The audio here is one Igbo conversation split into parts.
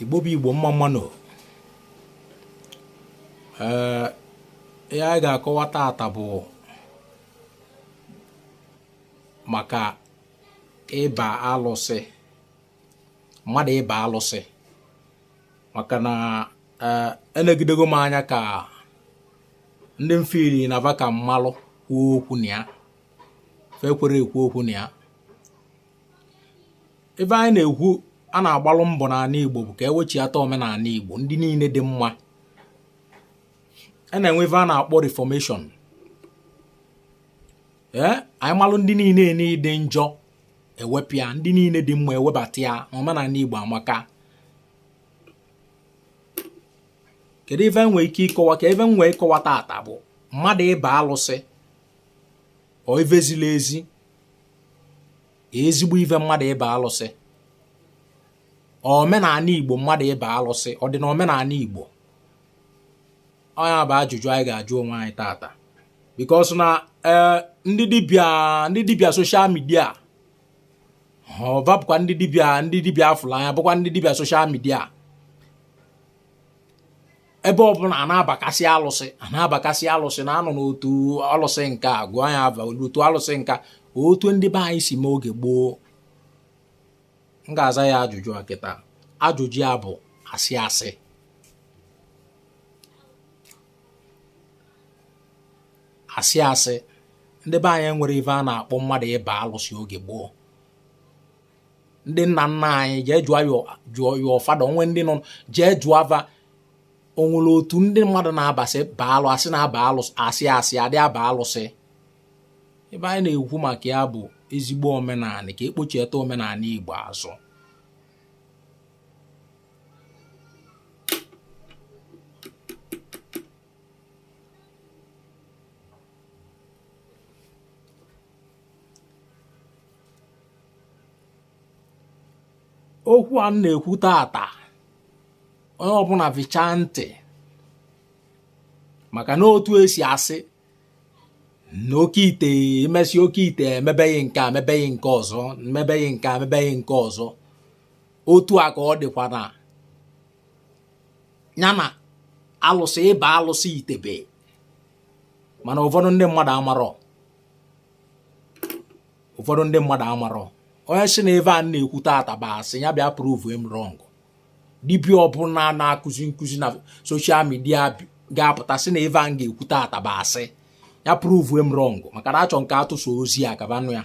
igbo bụ igbo mma mma nụ ee ihe anyị ga-akọwa taata bụ maka ịba alụsị mmadụ ịba alụsị maka na eh, elegidego m anya ka ndị mfiri na va ka m malụ kwuo okwu na ya fa ekwerọ ekwu okwu na ya ife anyị na-ekwu a na-agbalụ mbọ n'ani Igbo bụ ka ewechiata omenani Igbo ndị niine dị mma a na-enwe ife a na-akpọ reformation ee eh, anyị malụ ndị niine dị njọ ewepụ ya ndị niine dị mma ewebata ya omenani Igbo amaka kedu ife nwee ike ịkọwa ka ife m nwee ịkọwa tata bụ mmadụ ịba alụsị ọ ife zili ezi ezigbo ife mmadụ ịba alụsị omenani igbo mmadụ ịba alụsị ọ dị na omenani igbo ọ nya bụ ajụjụ anyị ga-ajụ onwe anyị tata because na eh, ndị ndị dibịa social media va bụkwa ndị dibịa afụlụ anya bụkwa ndị dibịa social media ebe ọbụna a na-abakasị alụsị a na-abakasị alụsị na-anọ n'otu alụsị nka gụọ ya ava n'otu alụsị nka otu ndị be anyị si mee oge gboo m ga-aza gị ajụjụ a kịta ajụjụ ya bụ asị asị asị asị ndị be anyị enwerọ ife a na-akpọ mmadụ ịba alụsị oge gboo ndị nna nna anyị jee jụọ your father o nwee ndị nọ jee jụọ va o nwere otu ndị mmadụ na-abasị baa alụ asị na-aba alụsị asị asị adị aba alụsị ife anyị na-ekwu maka ya bụ ezigbo omenani ka ekpochieta omenani Igbo azụ okwu a m na-ekwu tata onye ọbụna vichaa ntị maka na otu esi asị na oke ite emesi oke ite emebeghị nke a mebeghị nke ọzọ mebeghị nke a mebeghị nke ọzọ otu a ka ọ dịkwa na ya na alụsị ịba alụsị itebe mana ụfọdụ ndị mmadụ amarọ ụfọdụ ndị mmadụ amarọ onye sị na ife a m na-ekwu tata bụ asị ya bịa prove m wrong dibịa ọbụna na-akụzi nkụzi na social media ga-apụta sị na ife a m ga-ekwu tata bụ asị ya prove m wrong maka na achọ m ka atụsa ozi a ka va nụ ya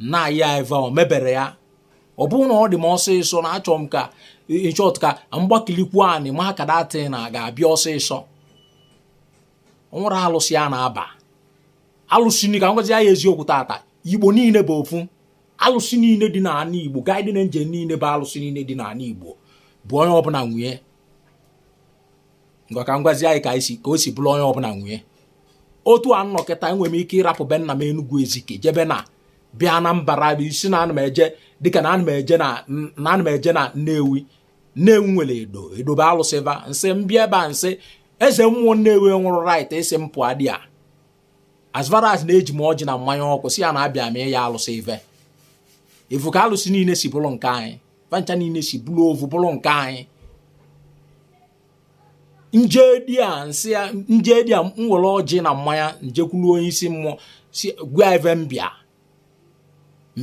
nna ya eva o mebere ya ọ bụrụ na ọ dị m ọsịsọ na achọrọ m ka in short ka m gbakilikwu anị maka that thing ga-abịa ọsịsọ o nwere alụsị a na-aba alụsị ni ka m gwazi ya eziokwu tata igbo niile bụ ofu alụsị niile dị n'ala igbo guardian angel niile bụ alụsị niile dị n'ala igbo bụ onye ọbụla nwe ya ngwa ka m gwazie anyị ka o si bụrụ onye ọbụla nwe ya otu a m nọ kịta enwere m ike ịrapụ be nna m Enugu Ezike jebe na bịa na mbara bụ isi na ana m eje dịka na ana m eje na na ana m eje na Nnewi Nnewi nwere Edo Edo bụ alụsị va m sị m bịa ebe a m sị eze mmụọ Nnewi nwerọ right ịsị m pụọ edi a as far as na eji m ọjị na mmanya ọkụ sị ya na abịa m ịyọ alụsị ive ị fụ ka alụsị niile si bụrụ nke anyị va ncha niile si bụrụ ovu bụrụ nke anyị m je edi a m sị ya m je edi a m were ọjị na mmanya m jekwuru onye isi mmụọ si gwa ive m bịa m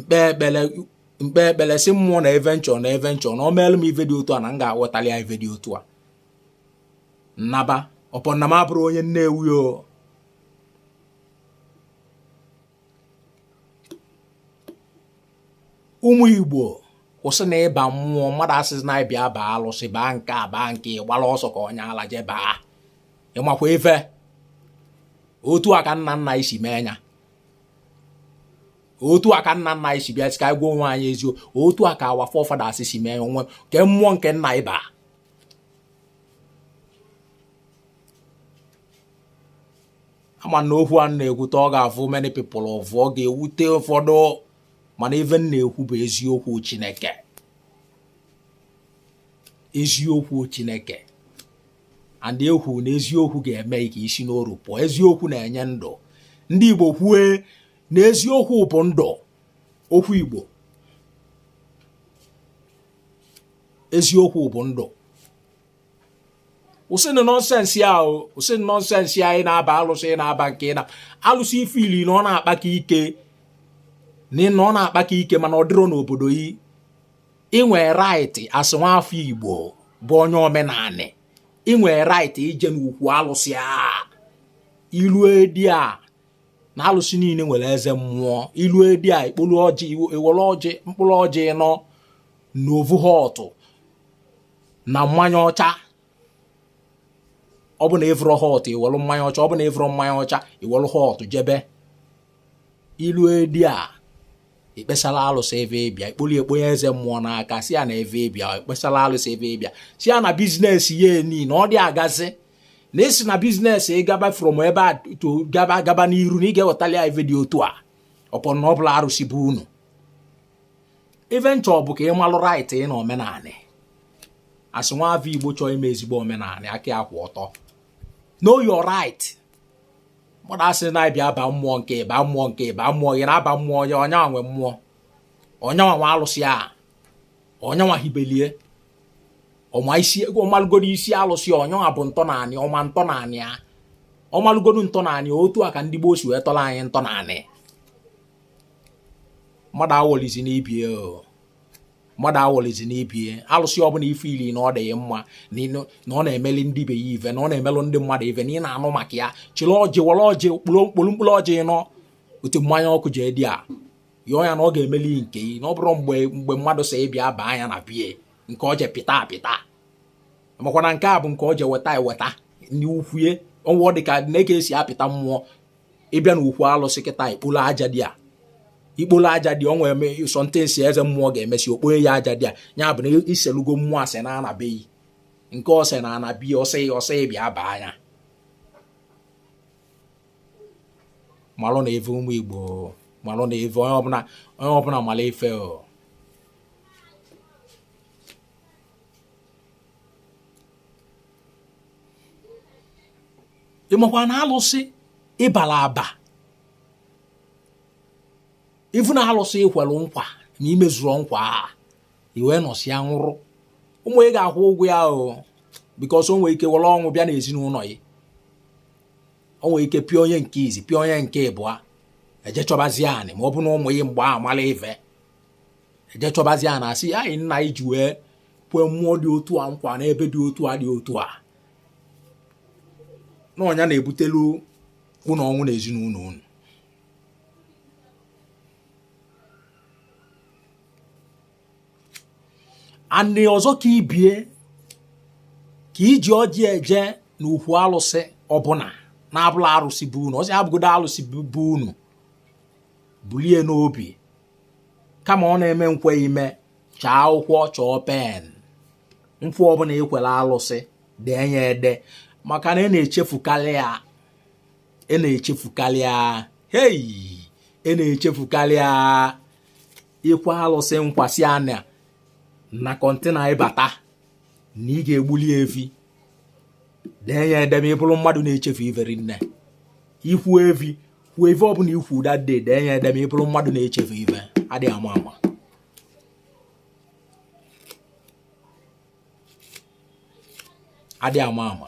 kpe ekpere sị mmụọ na ive m chọ na ive m chọ na ọ meelụ m ive dị otu a na m ga-ewetali ya ive dị otu a m naba ọ bụ na m abụrọ onye Nnewi o ụmụ igbo kwụsị na ịba mmụọ mmadụ asịzi na ị bịa baa alụsị baa nke a baa nke ị gbara ọsọ ka onye ala je baa ị makwa ife otu a ka nna nna anyị si mee ya otu a ka nna nna anyị si bịa sị ka anyị gwa onwe anyị eziokwu otu a ka our forefathers si mee ya kee mmụọ nke nna anyị baa ama m na okwu a m na-ekwute ọ ga-afụ many people ụfụ ọ ga-ewute ụfọdụ mana ife m na-ekwu bụ eziokwu Chineke eziokwu Chineke and e kwu na eziokwu ga-eme ka i si n'oru pụọ eziokwu na-enye ndụ ndị Igbo kwue na eziokwu bụ ndụ okwu Igbo eziokwu bụ ndụ kwụsịnụ nonsense a kwụsịnụ nonsense a ị na-aba alụsị na-aba nke na alụsị ị fụlụ na ọ na-akpaka ike na ọ na-akpaka ike mana ọ dịrọ n'obodo yi i nwe right as nwafọ igbo bụ onye omenanị i nwe right ije n'ukwu alụsị a i lu edi a na alụsị niile nwere eze mmụọ i lu edi a i kpolu ọjị i were ọjị mkpụrụ ọjị nọ na ovu hot na mmanya ọcha ọ bụ na ịvụrọ hot iwelụ mmanya ọcha ọ bụ na ịvụrọ mmanya ọcha iwelụ hot jebe ilue there ikpesala alụsị ive ịbịa ikpolie kponye eze mmụọ n'aka sị ya na ive ịbịa ikpesala alụsị ive ịbịa sị ya na business ya ni na ọ dị agazi na asị na business ị gaba from ebe a gaba n'iru na ị ga-ewetali ya ive dị otu a upon na ọ bụla arụsị be unu ife nchọ bụ ka ị malụ right ị na omenanị as nwa afọ igbo chọọ ime ezigbo omenanị aka ya kwụ ọtọ know your right mmadụ asị na-abịa aba mmụọ nke ịba mmụọ nke ịba mmụọ gị na-aba mmụọ onye onyanwa nwe mmụọ onyanwa nwe alụsị a onyanwa hibelie ọma isi ọmalụgodo isi alụsị onyanwa bu ntọnanị ọma ntọnanị a ọmalụgodo ntọnanị otu a ka ndị gboo si wee tọrọ anyị ntọnanị mmadụ awọlizina ibie mmadụ awọlizina ibie alụsị ọbụna ịfụlụ na ọ dị mma na ọ na-emeli ndị be ya ive na ọ na-emelụ ndị mmadụ ive na ị na-anụ maka ya chịrị ọjị were ọjị kporu mkpụrụ ọjị nọ otu mmanya ọkụ je there yọọ ya na ọ ga-emeli nke ị na ọ bụrụ mgbe mmadụ sị ịbịa baa anya na bie nke ọ je pịta apịta makwana nke a bụ nke ọ je weta eweta n'ukwue o nwe ụdị aka esi apịta mmụọ ịbịa na ukwu alụsị kịta ikpolo aja there ikpolo aja there o nwere some things eze mmụọ ga-emesi okponye yị aja there ya bụ na iselugo mmụọ asị na anabeghị nke ọsị na anabi ọsị bịa baa anya malụnụ ive ụmụ igbo malụnụ ive onye ọbụna malụ ife o ị makwa na alụsị ịbara aba ifu na alụsị ikwelu nkwa na imezurọ nkwa a iwee nọsịa nwụrụ ụmụ ị ga-akwụ ụgwọ ya o because o nwere ike were ọnwụ bịa n'ezinụnọ yị o nwere ike pịa onye nke izi pịa onye nke ịbụa eje chọbazia and ma ọ bụ na ụmụ yị mgbe a mara ive eje chọbazia na-asị anyị nna ị ji wee kwee mmụọ dị otu a nkwa n'ebe dị otu a dị otu a na ọ nya na-ebutelu unu ọnwụ na ezinụlọ unu and ọzọ ka ibie ka iji ọjị eje na ukwu alụsị ọbụna na-abụla arụsị be unu ọsị abụgodo alụsị be unu bulie n'obi kama ọ na-eme nkwe ime chọọ akwụkwọ chọọ pen nkwa ọbụla ikwere alụsị dee ya ede maka na ị na-echefukarị ya ị na-echefukarị ya hei ị na-echefukarị ya ikwe alụsị nkwa sị ya na kọntena ị bata na ị ga-egbuli evi dee ya ede ma ị bụrụ mmadụ na-echefu ive rinne ikwu evi kwuo ive ọ bụla ikwu that day dee ya ede ma ị bụrụ mmadụ na-echefu ive adị ama ama adị ama ama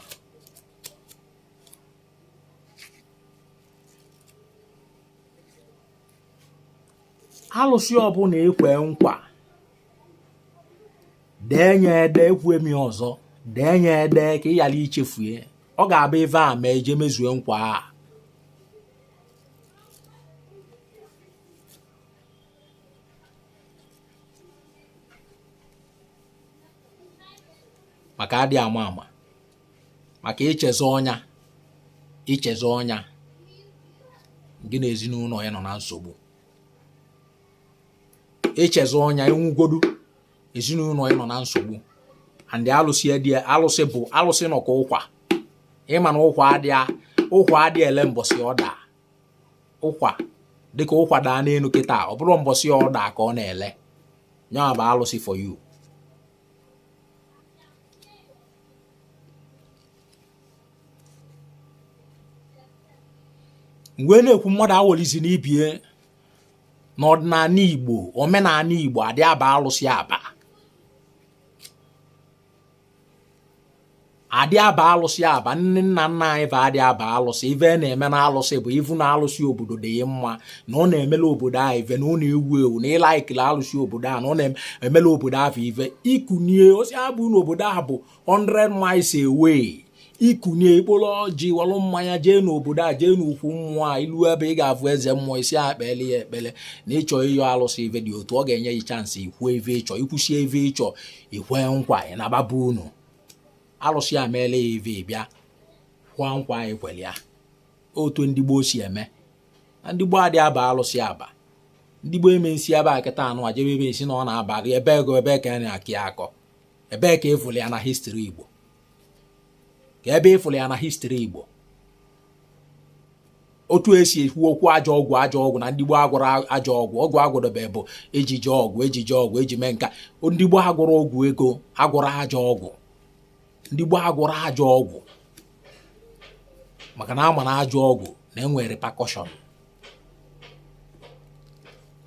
alụsị ọbụla ekwe nkwa dee ya ede ekwue m ya ọzọ dee ya ede ka ị ghara ichefu ya ọ ga-abụ ive a mee i jee mezue nkwa a maka adị ama ama maka ichezọọ nya ichezọọ nya gị na ezinụlọ ị anọ na nsogbu ichezọọ nya ị nwụgodu ezinụlọ ị nọ na nsogbu and alụsị dị alụsị bụ alụsị nọ ka ụkwa ịma na ụkwa adịa ụkwa adị ele mbọsị ọ daa ụkwa dịka ụkwa daa n'elu kịta ọ bụrọ mbọsị ọ daa ka ọ na-ele nyaa bụ alụsị for you mgbe na-ekwu mmadụ awolizina ibe ya n'ọdịnala Igbo omenala Igbo adị aba alụsị aba adị aba alụsị aba nne nna nna anyị va adị aba alụsị ive na-eme na alụsị bụ ị vụ na alụsị obodo dị mma na ọ na-emelụ obodo a ive na ọ na-ewu ewu na ị like-lị alụsị obodo a na ọ na-emelụ obodo ahụ ive ikunie osi abụ na obodo ahụ bụ 100 miles away ikunie ikpolo ọjị welụ mmanya jee n'obodo a jee n'ukwu mmụọ a ilu ebe ị ga-afụ eze mmụọ ị sị a kpele ya ekpele na ịchọ ịyọ alụsị ive dị otu a ọ ga-enye gị chansị ikwu ive ịchọ ikwusịa ive ịchọ ikwe nkwa ị naba be unu alụsị a meela ya ive bịa kwụọ nkwa a ị kwere ya otu ndị gboo si eme na ndị gboo adị aba alụsị aba ndị gboo eme nsi ebe a kịta anụ a jebe ebe esi na ọ na-abalị ebe ego ebe ka a na-akọ ya akọ ebee ka ị vụlụ ya na history Igbo ka ebe ị vụlụ ya na history Igbo otu esi ekwu okwu ajọ ọgwụ ajọ ọgwụ na ndị gboo agwọrọ ajọ ọgwụ ọgwụ agwọdobe bụ ejije ọgwụ ejije ọgwụ eji mee nka ndị gboo agwọrọ ọgwụ ego agwọrọ ajọ ọgwụ ndị gboo agwọrọ ajọ ọgwụ maka na a ma na ajọ ọgwụ na-enwe repercussion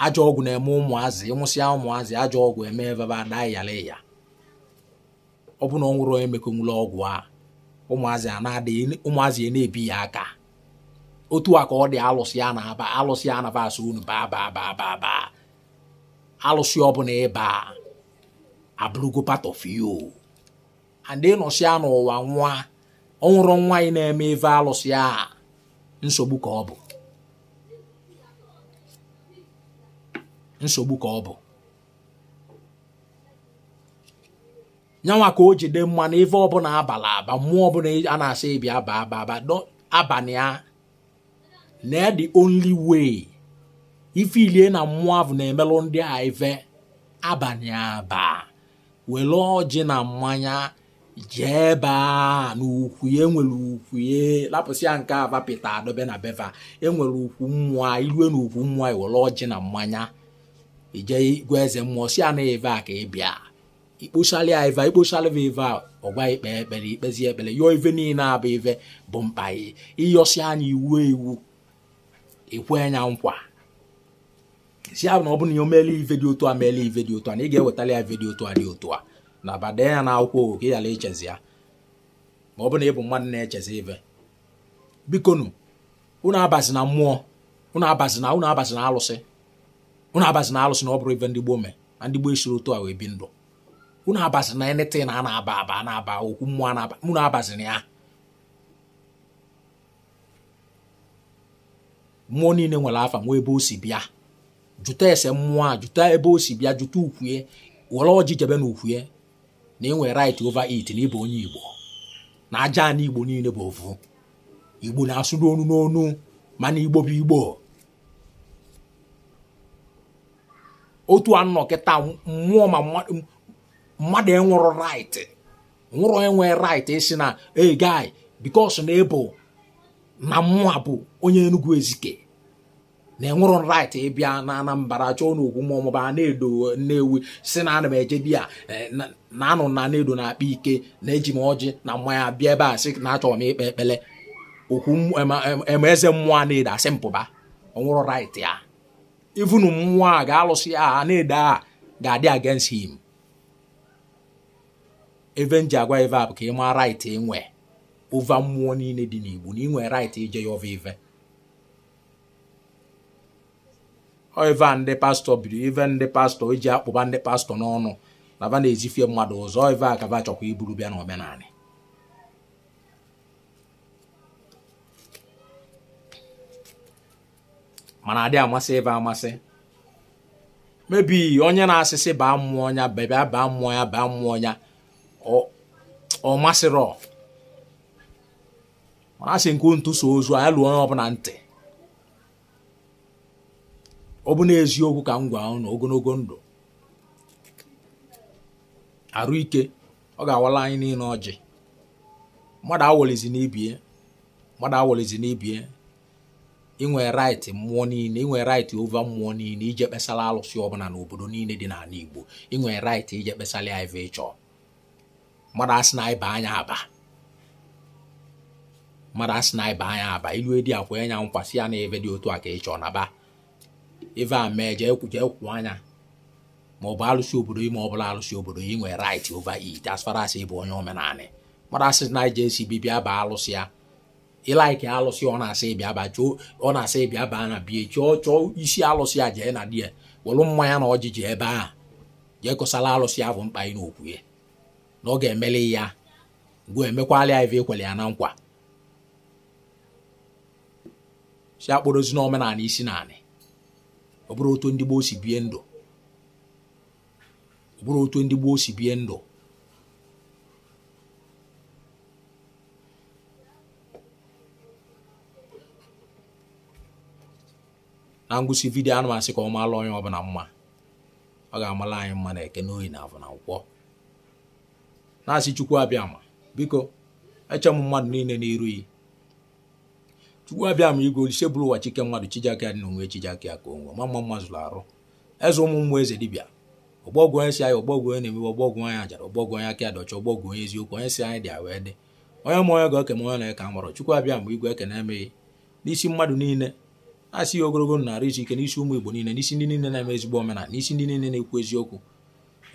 ajọ ọgwụ na-eme ụmụazị ịmụsịa ụmụazị ajọ ọgwụ eme va va ada yala ya ọ bụ na o nwerọ onye mekonwula ọgwụ a ụmụazị a na-adị ụmụazị a na-ebi ya aka otu a ka ọ dị alụsị a na-aba alụsị a na-aba a sị unu baa baa baa baa baa alụsị ọbụna ị ba abụrụgo part of you and ị nọsịa n'ụwa nwa ọ bụrụ nwa ị na-eme ife alụsị a nsogbu ka ọ bụ nsogbu ka ọ bụ nyanwa ka o ji dị mma na ife ọbụna a bala aba mmụọ ọbụna a na-asị bịa baa baa baa abana ya na the only way if really na mmụọ ahụ na-emelụ ndị a ife abana ya aba were ọjị na mmanya jee ebe a na ukwu ya e nwere ukwu ya lapụsịa nke a va pịta dobe na be va e nwere ukwu mmụọ i lue na ukwu mmụọ i were ọjị na mmanya i je gwa eze mmụọ sị ya na ive a ka ị bịa ikpochali ya ive ikpochali va ive a ọ gwa ị kpee ekpere i kpezie ekpere yọọ ive niile abụ ive bụ mkpa ị ị yọsịa nya iwu ewu i kwe nya nkwa sị ahụ na ọ bụ na o meele ive dị otu a meele ive dị otu a na ị ga-ewetali ya ive dị otu a dị otu a naba dee ya na akwụkwọ ogo ka ị ghara ichezọ ya ma ọ bụ na ị bụ mmadụ na-echezọ ive bikonu unu abazina mmụọ unu abazina unu abazina alụsị unu abazina alụsị na ọ bụrọ ive ndị gboo mee na ndị gboo esirọ otu a wee bi ndụ unu abazina anything a na-aba aba na-aba okwu mmụọ na-aba unu abazina ya mmụọ niile nwere afa nwee ebe o si bịa jụta ese mmụọ a jụta ebe o si bịa jụta ukwue were ọjị jebe na ukwue na ị nwere right over it na ị bụ onye igbo na aja ana igbo niile bụ ofu igbo na-asụ n'onu n'onu mana igbo bụ igbo otu a nọ kịta mmụọ ma mmadụ enwerọ right nwerọ enwe right ịsị na hey guy because na ịbụ na mụa bụ onye Enugu Ezike na enwerọ m right ịbịa na Anambra chọọ na okwu maọbụ Anaedo Nnewi sị na ana m eje di ya eh, na anụ m na Edo na-akpa ike na eji m ọjị na mmanya bịa ebe a sị na achọrọ m ikpe ekpele okwu eme eze mmụọ Anaedo asị m pụba o nwerọ right ya even mmụọ a ga- alụsị Anaedo a ga-adị against him ive m ji agwa ị ive a bụ ka ị maa right i nwe over mmụọ niile dị n'Igbo na i nwe right ije ya ọva ive ọ ive a ndị pastọ biri ive ndị pastọ e ji akpụba ndị pastọ n'ọnụ na va na-ezifie mmadụ ụzọ ọ ive a ka va chọkwa iburu bịa na omenani mana adị amasị ive amasị maybe onye na-asịsị baa mmụọ ya bebịa baa mmụọ ya baa mmụọ ya ọ masịrọ mana asị nke ntu so ozu anya luo onye ọbụla ntị ọ bụ n'eziokwu ka m gwa unu ogologo ndụ arụ ike ọ ga-awala anyị niile ọjị mmadụ awọlizi n'ibie mmadụ awọlizi n'ibie i nwe right mmụọ niile i nwe right over mmụọ niile ije kpesala alụsị ọbụla n'obodo niile dị n'ala Igbo i nwe right ije kpesala ya ife ị chọ mmadụ asị na ịba anya aba mmadụ asị na ịba anya aba ilu edi akwa anya nkwasị ya na ebe dị otu a ka ị chọ na ba ife a mee jee kwụ anya ma ọ bụ alụsị obodo ime ọ bụla alụsị obodo ị nwere right over it as far as ị bụ onye omenanị mmadụ asị na ije esi bibia ba alụsị ya ị like alụsị ọ na-asị ị bịa ba chọọ ọ na-asị ị bịa baa na bie chọọ chọọ isi alụsị a jee na di ya welu mmanya na ọjị jee ebe ahụ jee kọsala alụsị avụ mkpa ị n'okwu ya na ọ ga-emeli ya ngwa emekwala ya ife i kwelu ya na nkwa si akpọrozi n'omenanị isi naanị ọ bụrụ otu ndị gboo si bie ndụ ọ bụrụ otu ndị gboo si bie ndụ na ngwụsị vidiyo ana m asị ka ọ maala onye ọbụla mma ọ ga-amala anyị mma na eke n'oyi na afọ na nkwọ na-asị chukwu abịama biko echee m mmadụ niile n'iru yi chukwu abịama igwe olise buru ụwa chi ke mmadụ chi ji aka ya dị n'onwe chi ji aka ya ka onwe ma mma mma zulu arụ eze ụmụ mmụọ eze dibịa ọgbọgwụ onye si anyị ọgbọgwụ onye na-emewe ọgbọgwụ onye ajara ọgbọgwụ onye aka adọcha ọgbọgwụ onye eziokwu onye si anyị dị wee dị onye ma onye ga-eke ma onye na-eke amụrụ chukwu abịama igwe ekenee m gị n'isi mmadụ niile na-asị ya ogologo na arụ isi ike n'isi ụmụ igbo niile n'isi ndị niile na-eme ezigbo omenala n'isi ndị niile na-ekwu eziokwu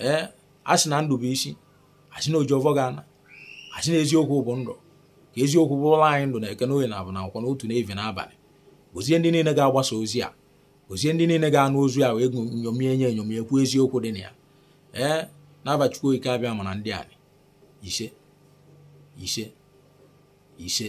ee a sị na ndụ bụ isi a sị na oji ọvọ ga-ana a sị na eziokwu bụ ndụ ka eziokwu bụrụla anyị ndụ na eke n'oyi na afọ na nkwọ n'ụtụtụ n'evivie n'abalị gozie ndị niile ga-agbasa ozi a gozie ndị niile ga-anụ ozi a wee nyomie nye enyomie kwuo eziokwu dị na ya ee n'ava Chukwu Okike abịama na ndị anyị ise ise ise